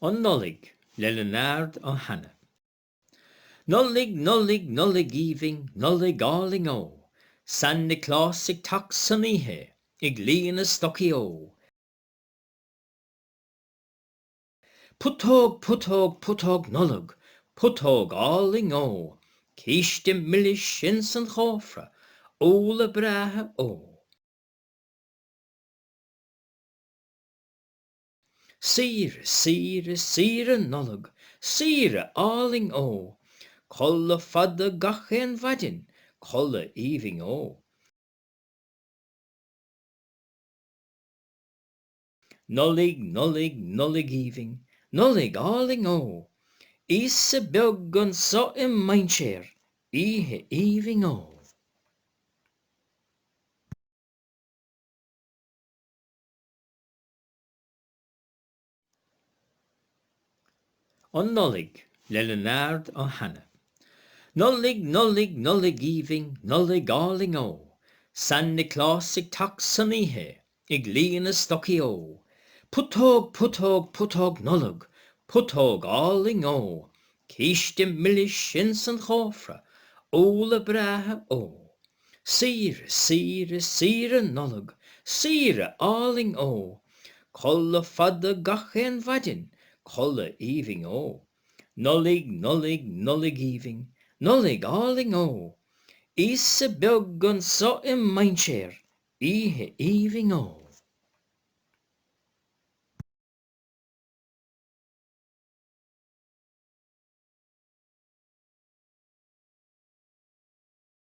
An Nollaig, le Leonard Ó hAnnaidh. Nollaig, Nollaig, Nollaig aoibhinn, Nollaig álainn ó! San Nioclás ag teacht san oíche, ag líonadh stocaí ó! Putóg, putóg, putóg Nollag, putóg álainn ó! Císte milis ins an chófra, úlla breátha ó! Saoire, saoire, saoire Nollag, saoire álainn ó! Codladh fada gach aon mhaidin, codladh aoibhinn ó! Nollaig, Nollaig, Nollaig aoibhinn, Nollaig álainn ó! Íosa beag anso i mainséar, oíche aoibhinn ó! An Nollaig, le Leonard Ó hAnnaidh. Nollaig, Nollaig, Nollaig aoibhinn, Nollaig álainn ó! San Nioclás ag teacht san oíche, ag líonadh stocaí ó! Putóg, putóg, putóg Nollag, putóg álainn ó! Císte milis ins an chófra, úlla breátha ó! Saoire, saoire, saoire Nollag, saoire álainn ó! Codladh fada gach aon mhaidin, codladh aoibhinn ó! Nollaig, Nollaig, Nollaig aoibhinn, Nollaig álainn ó! Íosa beag anso i mainséar, oíche aoibhinn ó!